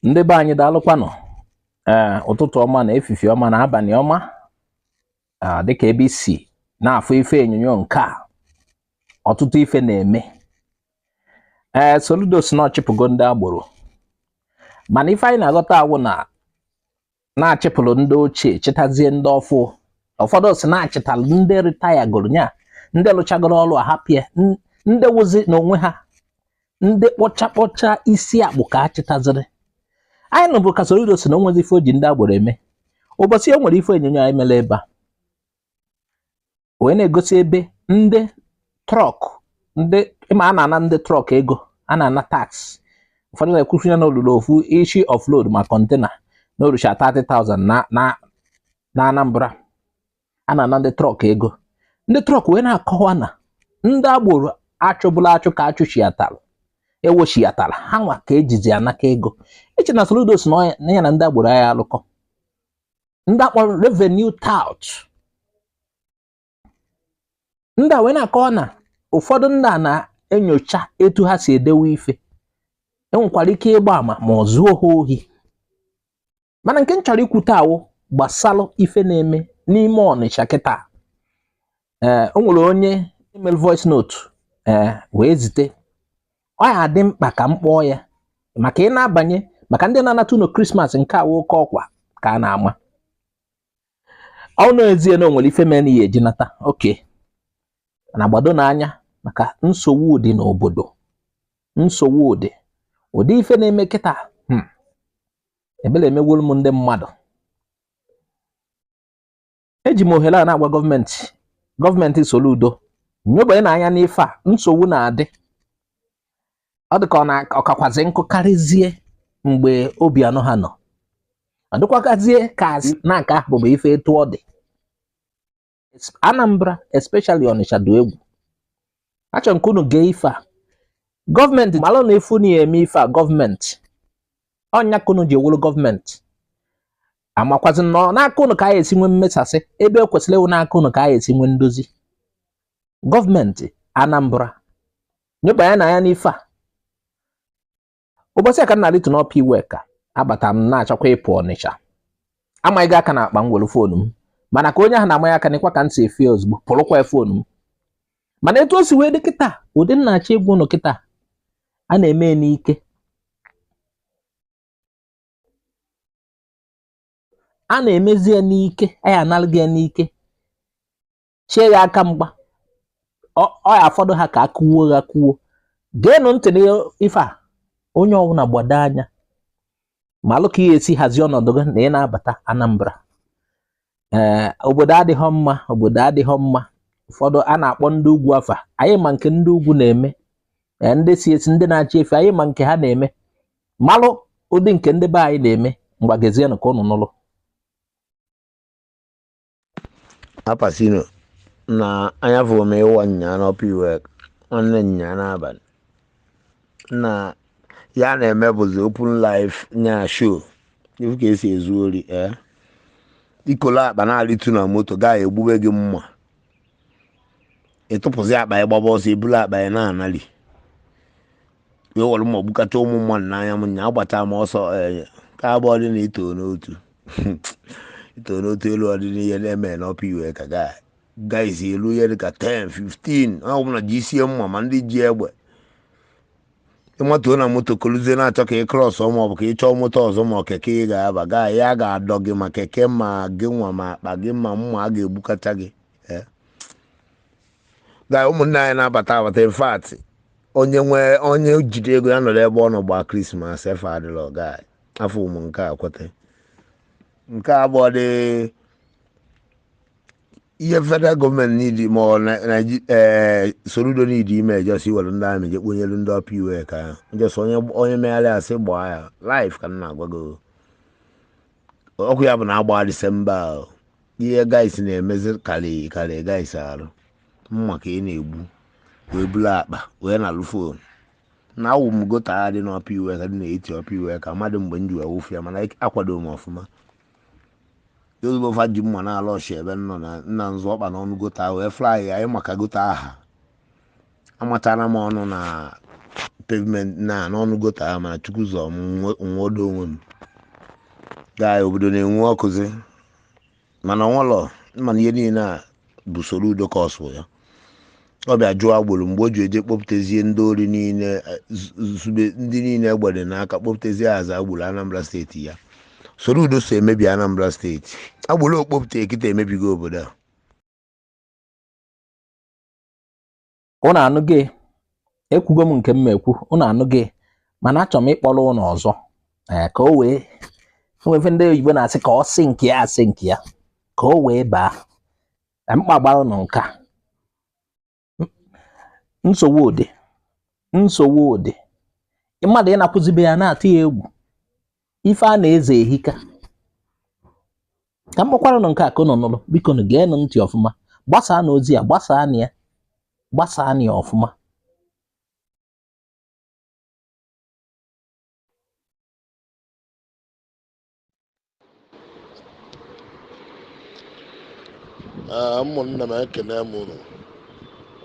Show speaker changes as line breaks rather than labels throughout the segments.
ndị be anyị daalụkwanụ ee eh, ụtụtụ ọma na efifi ọma na abalị ọma ah, dịka ebe i si na-afụ ife onyonyo nke a ọtụtụ ife na-eme ee eh, Soludo sị na ọ chịpụgo ndị agboro mana ife anyị na-aghọta awụ na na a chịpụrụ ndị ochie chịtazie ndị ọfụụ ụfọdụ sị na a chịtalụ ndị ritayagoro nya ndị lụchagoro ọrụ ahapịa ndị wụzi n'onwe ha ndị kpọcha kpọcha isi akpụ ka a chịtaziri anyị nụbu ka Soludo sị na o nwezi ife o ji ndị agboro eme ụbọchị a o nwere ife onyonyo anyị mere ebe a wee na-egosi ebe ndị trọk ndị ị ma a na-ana ndị trọk ego a na-ana tax ụfọdụ na-ekwusi ya na o lulu ofu ishi offload ma kọntena na-erucha 30,000 na na na Anambra a na-ana ndị trọk ego ndị trọk wee na-akọwa na ndị agboro a chụbulu achụ ka a chịchiatara e wechiatara ha nwa ka e jizi anakọ ego i che na Soludo sị na ya na ndị agboro ya alụkọ ndị a kpọrọ revenue tout ndị a wee na-akọwa na ụfọdụ ndị a na-enyocha etu ha si edewe ife enwekwara ike ịgba ama ma o zuo ha ohi mana nke m chọrọ ikwute awụ gbasalụ ife na-eme n'ime Ọnịcha kịta ee o nwere onye melu voice note ee wee zite ọ ya-adị mkpa ka m kpọọ ya maka ị na-abanye maka ndị na-anata ụnọ Krismas nke a wụ oke ọkwa ka a na-ama ọ n'ezie na o nwere ife mere na ihe e ji nata okay na gbadonụ anya maka nsogbu dị n'obodo nsogbu dị ụdị ife na-eme kịta hmm, ebele emegwolu m ndị mmadụ eji m ohere a na-agwa gọọmenti gọọmenti Soludo nyobanyenụ anya n'ife a nsogbu na-adị ọ dị ka ọ kakwazi nkụ karịzie mgbe Obiano ha nọ ọ dịkwakazie ka na nke ahụ bụ ife etu ọ dị Anambra especially Ọnịcha dị egwu achọrọ m ka unu gee ife a gọọmenti malụ na efu na ya eme ife a gọọmenti ọ nya ka unu ji wụrụ gọọmenti amakwazi na n'aka unu ka anyị esi nwee mmesasị ebe o kwesịrị ịwụ n'aka unu ka anyị esi nwee ndozi gọọmenti Anambra nyobanyenụ anya n'ife a ụbọchị a ka m na-arịtu n'Upper Iweka abata m na-achọkwa ịpụ Ọnịcha a manye aka na akpa m were foonu m mana ka onye ahụ na-amanye aka nekwa ka m si efe ozugbo pụrụkwa foonu m mana etu o si wee dị kịta ụdị m na-achọ ịgwa unu kịta a na-eme n'ike a na-emezi ya n'ike nya analụ gị ya n'ike chie ya aka mgba ọ ọ ya afọdụ ha ka a kụwuo gị akụwuo geenụ ntị n'ife a onye ọbụla gbado anya malụ ka ị ya esi hazie ọnọdụ gị na ị na-abata Anambra ee eh, obodo adịghọ mma obodo adịghọ mma ụfọdụ a na-akpọ ndị ugwu afa anyị ma nke ndị ugwu na-eme eh, ndị si esi ndị na-achị efi anyị ma nke ha na-eme malụ ụdị nke ndị be anyị na-eme ngwa geezienụ ka ụnụ
nụlụ apasino na anya fụrụ m ịwa nyaa n'Upper Iwe nwanne nyaa n'abalị nna ihe a na-eme bụzi open life nya show ị fụ ka e si ezu ori ee ị kolu akpa na-arịtu na moto gaa egbube gị mma ịtụpụzi akpa ya gbaba ọsọ eburu akpa ya na-anali wee were mma gbukata ụmụ mmadụ n'anya m nya agbata m ọsọ ee ka abụọ dị na ito n'otu ito n'otu elu ụdị ihe na-eme n'Upper Iweka gaa guys elu ihe dịka 10 15 ọbụna jisie mma ma ndị ji egbe ị matuo na moto koluzie na-achọ ka ị cross ma ọ bụ ka ị chọọ moto ọzọ ma ọ keke ị ga-aba gaa ya ga-adọ gị ma keke ma gị nwa ma akpa gị ma mma a ga-egbukacha gị Eh. gaa ụmụnne anyị na-abata abata in fact onye nwee onye jide ego ya nọrọ ebe ọ nọ gbaa krismas efe adịla ọga anyị. afọ ụmụ nke a kweta nke a bụ ụdị ihe federal gọọmenti n'idi ma ọ na- Naiji- eh, Soludo n'idi ime ejọsi were ndị amị jekponyelu ndị Upper Iweka ya njọsị onye onye megharị asị gbaa ya live ka m na-agwa gị o. ọkụ ya bụ na a baa disemba ahụ ihe guys na-emezi karị karị guys arụ mma ka a na-egbu wee bulu akpa wee nalụ fon nna awụ m gota a dị n'Upper Iweka dị n'etiti Upper Iweka mmadụ mgbe m ji wee wụfe ya mana akwado m ọfụma ozugbo fa ji mma na-ala ọchị ebe m nọ na nna m zọ ọkpa n'ọnụ gota wee fly ya anyị maka gota aha amatara m ọnụ na pavement na n'ọnụ gota ahụ mana chukwu zọ m nwe- nwodo onwe m gaa obodo na-enwu ọkụzi mana ọnwalọ mana ihe niile a bụ Soludo cause ya ọ bịa chụọ agboro mgbe o ji eje kpọpụtezie ndị ori niile eh, zu- zube ndị niile egbe dị n'aka kpọpụtezie as agboro anambra steeti ya Soludo so emebi anambra steeti agboro ọ kpọpụta kịta emebigo obodo a
ụnụ anụghị ekwugo m nke m ma ekwu ụnụ anụghị mana achọrọ m ịkpọrọ ụnụ ọzọ ee ka o wee e nwe ife ndị oyibo na-asị ka ọ sink ya a sink ya ka o wee baa ka mkpa gbara ụnụ nke a nsogbu ụdị nsogbu ụdị mmadụ ịnakwụzi be ya na-atụ ya egwu ife a na-eze ehika ka m kpọkwara ụnụ nke a ka ụnụ nụrụ biko nụ geenụ ntị ọfụma gbasaanụ ozi a gbasaanụ ya gbasaanụ ya ọfụma
Ee, ụmụnne m ekene m unu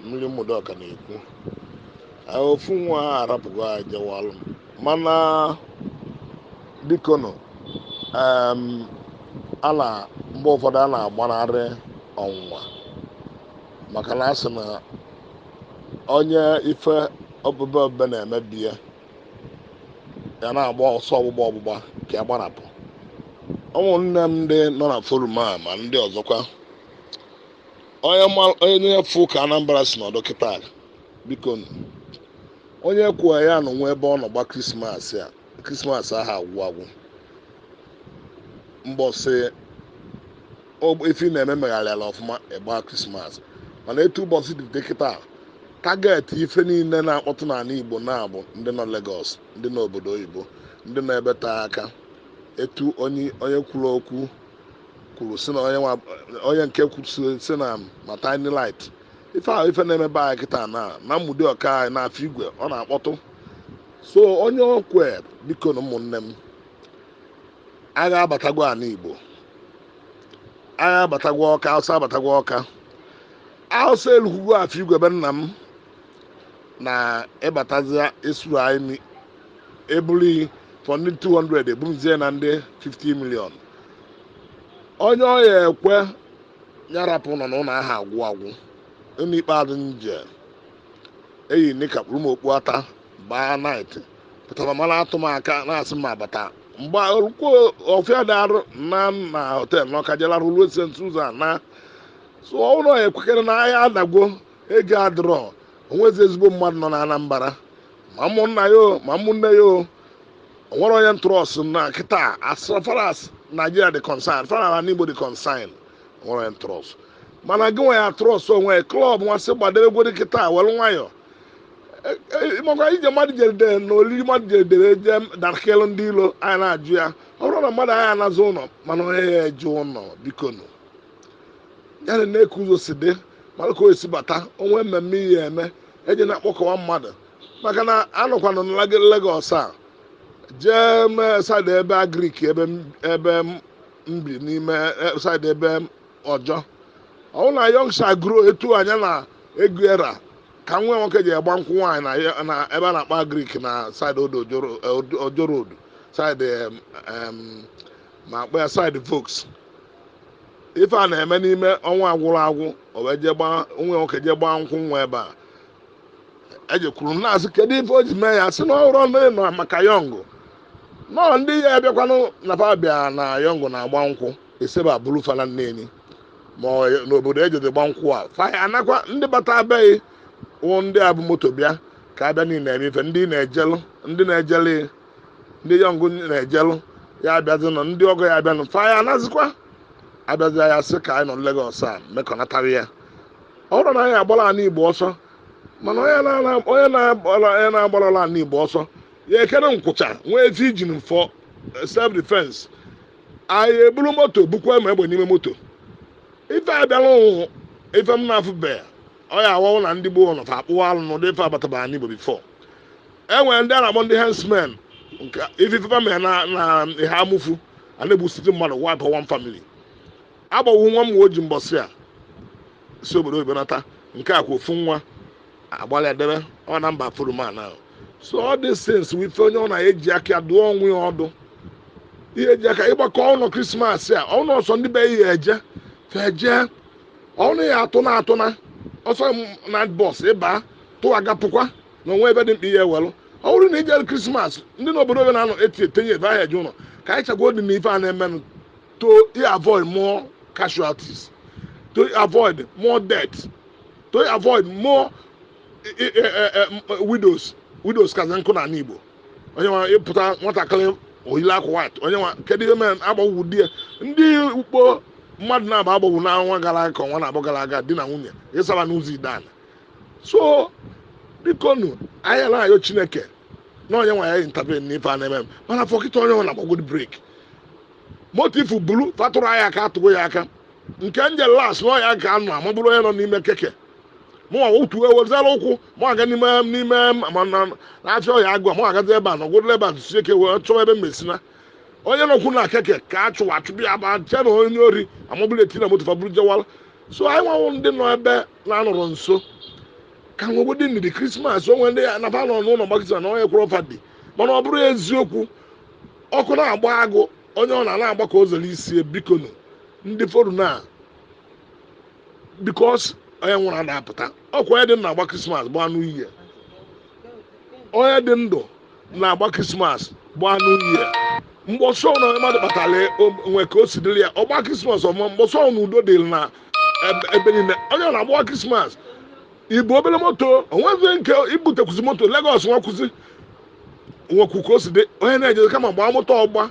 mmiri Ụmụdiọka na-ekwu Ee, ofu nwa ahụ arapụgo anyị jewalụ mana biko nụ em, a na mgbe ụfọdụ a na-agbanarị ọnwụnwa maka na a sị na onye ife obebe obebe na-emebi ya ya na-agba ọsọ ọgbụgba ọgbụgba ka ya gbarapụ ụmụnne m ndị nọ na forum a ma ndị ọzọkwa onye ma- onye fụ ka anambra si nọdụ kịta biko nụ. onye kwuo ya nọ nwa ebe ọ nọ gbaa krismas a krismas aha agwụ agwụ mbọsị ọ- ife na-eme megharịala ọfụma ị gbaa krismas mana etu ụbọchị dị dị kịta target ife niile na-akpọtụ n'ala igbo na-abụ ndị nọ Lagos ndị nọ obodo oyibo ndị nọ ebe taa aka etu onye onye kwuru okwu kwuru si na onye nwa onye nke kwuru si- si na ma tiny light ife ahụ ife na-emebe anyị kịta na na Ụmụdiọka anyị n'Afọ Igwe ọ na-akpọtụ so onye okwe biko nụ ụmụnne m agha abatagwo ala igbo agha abatagwo ọka awụsa abatagwo ọka awụsa elukwugwo afọ igwe ebe nna m na ị batazia esu anyị ni- ebuli for ndị 200 ebumzie na ndị 50 million onye ọ ya-ekwe ya rapụ nọ n'ụlọ aha agwụ agwụ ụlọ ikpeazụ m je eyi nika kpuru m okpu ata baa night pụtara ma na-atụ m aka na-asị m abata mgbe olukwo ọfịa dị arụ na na họtel na ọka jela rụrụ ose ntụ ụzọ a na so ụlọ ya ekwekere na ahịa adagwo ego adịrọ onwezi ezigbo mmadụ nọ na anambra ma ụmụnna ya o ma ụmụnne ya o onwere onye m trust na kịta as far as Nigeria dị concern far as Igbo dị concern onwere onye m trust mana gị nwe ya trust onwe klọb nwasị gbadebegwere kịta were nwayọ maka ije mmadụ jedere na olili mmadụ jedere je darakịlụ ndị ilo anyị na-ajụ ya ọ bụrụ na mmadụ aya anazi ụlọ mana onye ya-eje ụlọ biko nụ ya nenee ka ụzọ si dị mara ka o esi bata o nwe mmemme ihe eme eji na-akpọkọwa mmadụ maka na anọkwanụ na Lagos a jee mee saịdị ebe agrik ebe ebe m bi n'ime saịdị ebe Ojo ọ wụ na Young Shall Grow etu anya na ego ya ra ka nwa nwoke ji agba nkwụ nwaanyị na ya- na ebe a na-akpọ Agric na side Odo Ojoro- eh, Odo- Ojo Road side em, em, ma akpọ ya side Volks ife a na-eme n'ime ọnwa a gwụrụ agwụ o wee jee gbaa nwa nwoke jee gbaa nkwụ nwa ebe a ejekwuru m na-asị kedu ife o ji mee ya sị na ọ hụrụ ọnụ ịnọ maka Young nọọ ndị ya abịakwanụ na fa bịa na Young na-agba nkwụ e si ebe a buru fa naa Neni ma ọ- n'obodo e jezi gba nkwụ a fa anakwa ndị bata abeghị wụ ndị a bụ moto bịa ka abịa niile eme ife ndị na-ejelụ ndị na-ejele ndị Young na-ejelụ ya abịazi nọ ndị ọgọ ya abịanụ fa ya anazikwa abịazi ya sị ka anyị nọ Lagos a mekọnatara ya ọ bụrụ na anyị agbara ala Igbo ọsọ mana onye na- onye na-agbara onye na-agbarala ala Igbo ọsọ ya ekere nkwụcha nwee ife i ji for self defense anyị eburu moto bukwa ma egbe n'ime moto ife abịala ụnwụ ife m na-afụbeghị ọ ya awọwụ na ndị gboo nọ fa akpọwa alụ n'ụdị ife batabara n'Igbo before e nwere ndị a na-akpọ ndị herdsmen nke ife ife fa mere na na ihe amụfu a na-egbusite mmadụ wipe one family agbawo nwa m oji mbọsị o si obodo oyibo nata nke a kwa ofu nwa agbalị edebe ọ na mba afụrọ man ahụ so all these things bụ ife onye ọ na eji aka ya dụọ onwe ya ọdụ ihe eji aka ịgbakọ ọnụ krismas a ọnụ ọsọ ndị be ya eje feje ọnụ ya atụ na atụ na ọsọ m- na bọs ịba tụwaga pụkwa na o nwe ebe dị mkpa ihe ewelụ ọ bụrụ na ijere krismas ndị n'obodo obe na-anọ eti etinye ebe ahụ eje ụlọ ka anyị chagwa dị na ife a na-emenụ to avoid more casualties, to avoid more death, to avoid more eh, eh, eh, widows widows ka nkụ na Igbo onye nwa ịpụta nwatakịrị o yili akwa white onye nwa kedu ihe mere agbagbuo di ya ndị ukpo mmadụ na-aba agbagbuo n'ọnwa gara aga ka ọnwa naabọ gara aga di na nwunye ịsara n'ụzọ Ideani so bikonu anyị na-ayọ Chineke na onye nwe anyị intervene n'ife a na-eme mana for kịta onye ọwụna gbagodi brake motifu bulu fa tụrụ anyị aka atụgo ya aka nke nje last na ọya ga anụ ma bụrụ onye nọ n'ime keke mụnwa otu ewezala ụkwụ mụ aga n'ime n'ime ma na na-achọ ọhịa agụ mụ agazi ebe a na ọgwụdịla ebe a tụsi eke wee chọwa ebe mmesina onye nọkwu na keke ka a chụwa achụbụ ya ba che na onye ori amabụla eti na moto fa bụrụ jewala so anyị nwanwụ ndị nọ ebe na-anọrọ nso ka nwegodi ndidi krismas o nwe ndị ya na fa nọ n'ụlọ gbakịta na onye kwụrụ ọ fa dị mana ọ bụrụ eziokwu ọkụ na-agba agụ onye ọbụna na-agba ka o zere isi bikonu ndị forum a because onye nwụrụ ada apụta ọkwa onye dị ndụ na-agba krismas gbaa New Year onye dị ndụ na-agba krismas gbaa New Year mgbe a sị na ife mmadụ kpatara o nwe ka o si dịrị ya ọ gbaa krismas ọma mgbe a sị na udo dịrị na ebe- ebe niile onye ọbụna agbawa krismas i bu obere moto o nwezi nke i butekwuzi moto Lagos nwekwuzi nwekwu ka o si dị onye na-ejezi kama gbaa moto ọgba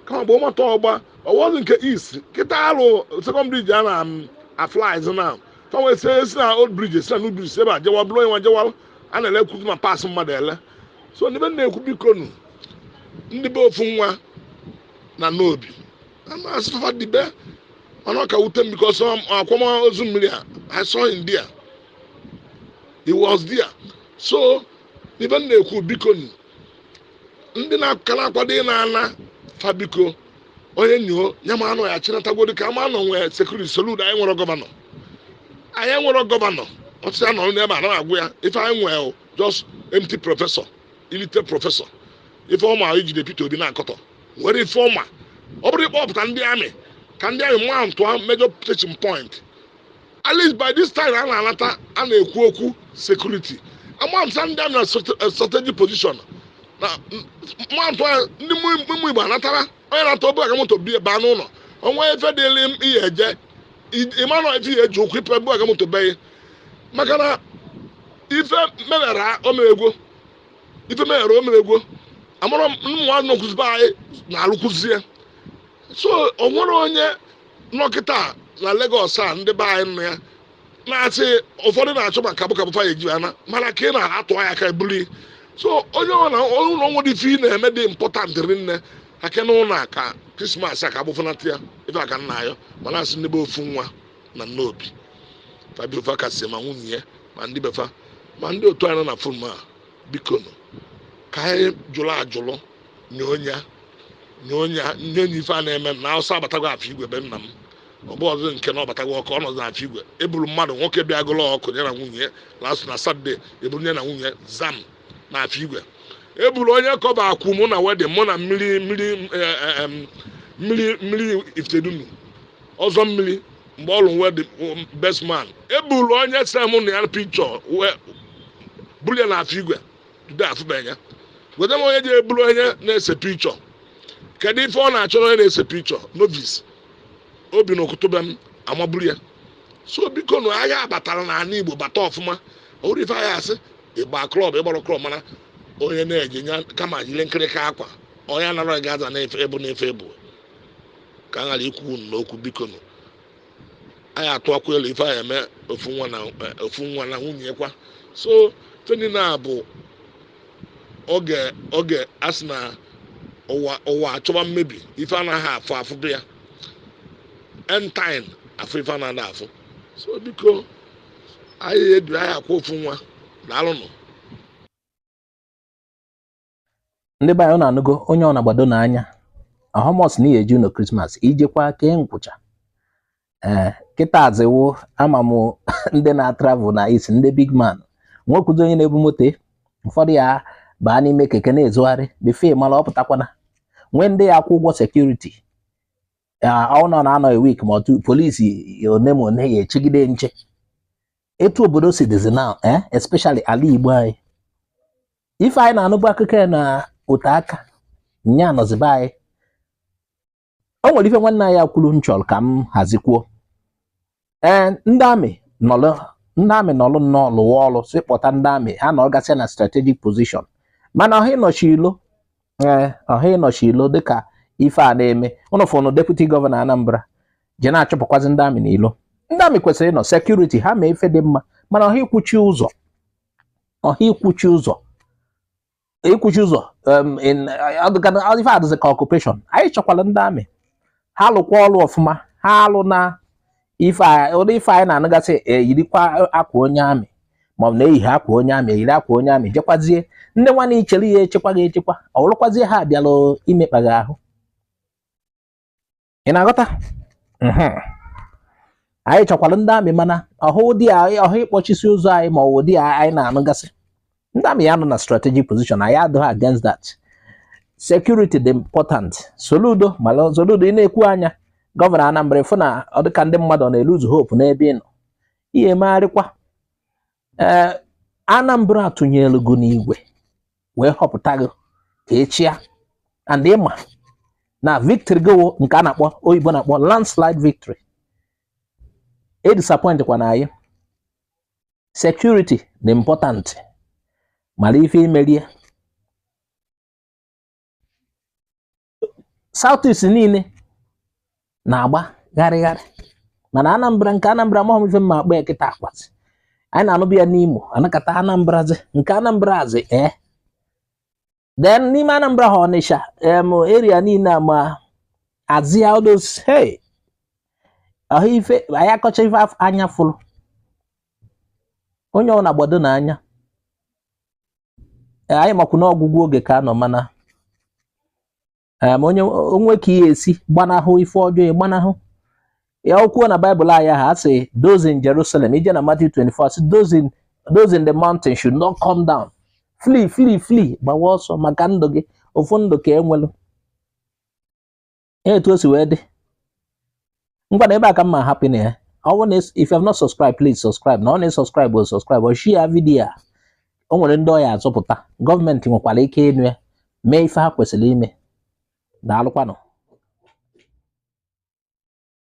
kama gbaa moto ọgba ọ bụzi nke east kịta alụ second bridge a na um, aflies na fanwe si si na old bridge si na new bridge si ebe a jewa buru onye nwa jewa a na-elekwuzi ma parts mmadụ ele so ife m na-ekwu biko nu ndị be ofu nwa na Nnobi ama asị fa dibe mana ọ ka wute m because akwamozu mmiri a i saw him there he was there so ife m na-ekwu biko nụ, ndị na-aka na-akwado ịna ana fa biko onye nọ ya ma anọ ya chinatagodi ka ama anọ nwee security Soludo anyị nwere gọvanọ anyị nwere gọvanọ ọtụtụ ya nọrọ n'ebe a na agwụ ya ife anyị nwee o, just empty professor illiterate professor ife ọ ma ijide Peter Obi na-akọtọ nwere ife ọma ọ bụrụ ịkpọpụta ndị army ka ndị army mountụa major searching point at least by this time a na-anata a na-ekwu okwu security amamsa ndị army na strategic position na mantụ a ndị ụmụ Igbo anatara onye nata o buga moto be ya baa n'ụlọ onwe efe dịrị m ihe eje ịmanụ efe ihe eji ụkwụ ipe buga moto be ya maka na ife mewere omegwo ife mewere omegwo amụrụ m nwa nọkwuzi be anyị na-alụkwụzie so o nwere onye nọ kịta na Lagos a ndị be anyị nọ ya na-asị ụfọdụ na-achọ ma kabụkabụ fa ya-eji ana mana ka ị na-atụ ya aka eburu i so onye ọbụna o nwedị ife ị na-eme dị important rinne aka na ụlọ aka krismas a ka abụfụnata ya ife a ka m na-ayọ ma na-asị ndị be ofu nwa na Nnobi fa biko fa kasie ma nwunye ya ma ndị be fa ma ndị otu anyị nọ na forum a bikonu ka anyị jụrụ ajụrụ nye onye a nye onye a nye onye ife a na-eme na awụsa abatago afọ igwe be nna m ọ bụrọzi nke na ọ batago ọkụ ọ nọzi afọ igwe eburu mmadụ nwoke bịa gụlụ ọkụ ya na nwunye ya last na Saturday eburu ya na nwunye zam na afọ igwe eburu onye kọba akwụ mụ na wedịn mụ na mmiri mmiri eh, eh, em, mmiri mmiri Ifitedunu ọzọ mmiri mgbe ọ lụrụ wedding best man eburu onye se mụ na ya pikchọ wee buru ya na afọ igwe today afụbeghị ya gweta m onye ji eburu onye na-ese pikchọ kedu ife ọ na-achọrọ onye na-ese pikchọ novis obi na-akụtụbe m amaburu ya so biko na agha batara n'ala igbo bata ọfụma ọhụrụ ife agha asị ịgba klọb ịgbara klọb mana onye na-eje ya kama jiri nkịrịka akwa onye anara gaza na-efe ebu na-efe ebu ka a ghara ikwu okwu n'okwu bikonụ anyị atụakwa elu ife anyị eme ofu nwa na ofu nwa na nwunye kwa so teni na bụ oge oge a sị na ụwa ụwa achọwa mmebi ife anaghị afụ afụ bụ ya end time afụ ife anaghị afụ so biko anyị edu anyị akwa ofu nwa daalụnụ
ndị be anyị na-anụgo onye ọ na-agbado n'anya how much na ihe eji ụlọ krismas ijekwa kee nkwụcha ee kịta azịwo ama m ndị na-atravel na isi ndị big man nwekwuzi onye na-ebu moto ụfọdụ ya baa n'ime keke na-ezogharị before mara ọ pụtakwa na nwee ndị ya akwụ ụgwọ sekuriti ọ nọ na-anọ wik ma otu polisi one ma one ya echegide nche etu obodo si dịzi now especially ala Igbo anyị ife anyị na-anụbụ akụkọ ya na ote aka nya anọzi be anyị o nwere ife nwanne anyị kwuru m chọrọ ka m hazikwuo ee ndị amị nọlụ ndị amị nọlụ nnọọ lụwa ọrụ si kpọta ndị amị ha nọgasị na strategic position mana ọha ịnọchi ilo ee ọha ịnọchi ilo dịka ife a na-eme unu fụnụ deputi gọvanọ Anambra ji na-achụpụkwazi ndị amị n'ilo ndị amị kwesịrị ịnọ sekuriti ha ma ife dị mma mana ọha ikwuchi ụzọ ọha ikwuchi ụzọ ikwuchi ụzọ ife adịzi ka ọkupeshọn anyị chọkwara ndị amị ha lụkwa ọrụ ọfụma ha alụna ife ụdị ife anyị na-anụgasị eyirikwa e, akwa onye amị maọbụ na eyighi akwa onye amị eyiri akwa onye amị jekwazie ndị nwanne i chere ya echekwa gị echekwa ọ wụrụkwazie ha bịalụ imekpa gị ahụ ị na-aghọta anyị chọkwara ndị amị mana ọhụ dị ọhụ ịkpọchisi ụzọ anyị ma ọ wụ ụdị anyị na-anụgasị ndị amị ya nọ na strategic position anyị adịghị against that security dị important soludo mana soludo ị na-ekwu anya gọvanọ Anambra fụ na ọ dịka ndị mmadụ na-eluzu hope n'ebe ị nọ ihe emegharịkwa ee eh, Anambra tụnyelụ gị n'igwe wee họpụta gị ka ị chịa and ị ma na victory gị nke a na-akpọ oyibo na-akpọ landslide victory edisappointkwana anyị security dị important mara ife i mere ya Southeast niile na-agba gharịgharị mana Anambra nke Anambra amahọ m ife m ma-akpọ ya kịta ọ kwazị anyị na-anụbu ya n'Imo a nọkata Anambra zi nke Anambra azị ee eh. then n'ime Anambra ha Ọnịsha em area niile ma Azia odos hey ahụ ife a ya-akọcha ife anya fụrụ onye ọbụna gbadonụ anya anyị makwu na ọgwụgwụ oge ka a nọ mana o nwee ka i ya-esi gbanahụ ife ọjọọ gbanahụ ya o kwuo na baịbụl anyị ha sị those in Jerusalem i jee na Matthew 24 sị those in the mountain should not come down flee flee flee gbawa ọsọ maka ndụ gị ofu ndụ ka e nwelu ya etu o si wee dị ngwanụ ebe a ka m ma-ahapụnụ ya ọ bụrụ na if you have not subscribed please subscribe na ọ na-esubscribe o subscribe ọ share vidiyo a o nwere ndị ọ ya-azọpụta gọọmenti nwekwara ike ịnụ ya mee ife ha kwesịrị ime daalụkwanụ